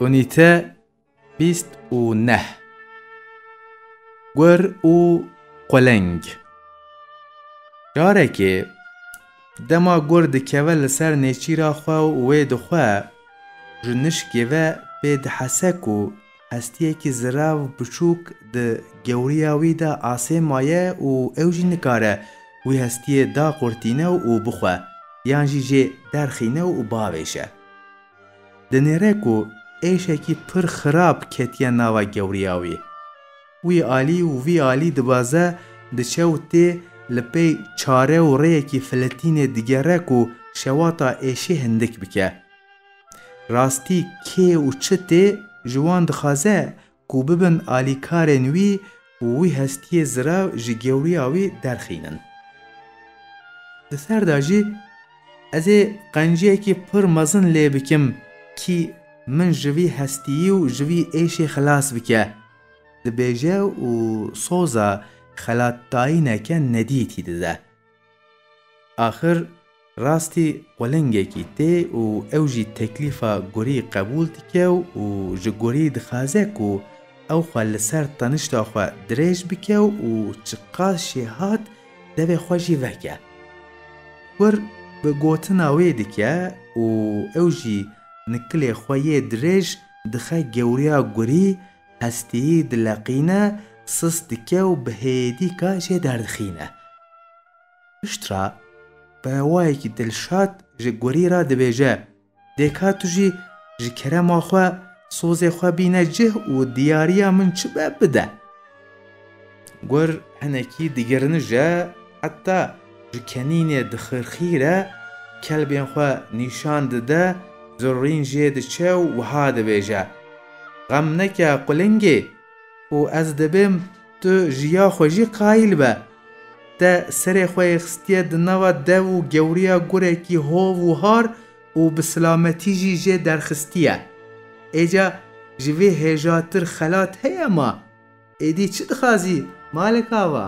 Unîte bîst û neh Gur û quleng Carekê dema gur dikeve li ser nêçîra xwe û wê dixwe ji nişkê ve pê dihese ku Hestiyekî zirav biçûk di gewriya wî de asê maye û ew jî nikare wî hestiyê daqurtîne û bixwe yan jî jê derxîne û bavêje. Di nêre ku êşekî pir xirab ketiye nava gewriya wî, wî alî û vî alî dibaze, diçe û tê li pey çare û rêyekî filetînê digere ku şewata êşê hindik bike. Rastî kê û çi tê ji wan dixwaze ku bibin alîkarên wî û wî hestiyê zirav ji gewriya wî derxînin. Di ser de jî ez ê qenciyekî pir mezin lê bikim kî min ji vî hestiyî û ji vî êşê xilas bike, dibêje û soza xelatdayîneke nedîtî dide. Axir rastî qulingekî tê û ew jî teklîfa gurî qebûl dike û ji gurî dixaze ku ew xwe li ser tenişta xwe dirêj bike û çiqas jî hat devê xwe jî veke. Gur bi gotina wê dike û ew jî nikilê xwe yê dirêj dixe gewriya gurî Hestî dileqîne, sis dike û bi hêdî kaşê derdixîne. Pişt re bi rewayekî dilşad ji gurî re dibêje, Dê ka tu jî ji kerema xwe sozê xwe bîne cih û diyariya min çi be bide. Gur hinekî digirinij e, heta ji kenînê dixirxîr e, kelbên xwe nîşan dide, zirrîn jê diçe û wiha dibêje, Xem neke qulingê, ku ez dibêm tu ji ya xwe jî qayîl be. Te serê xwe yê xistiye di nava dev û gewriya gurekî hov û har û bi silametî jî jê derxistiye. Êca ji vê hêjatir xelat heye ma? Êdî çi dixwazî Malik ava?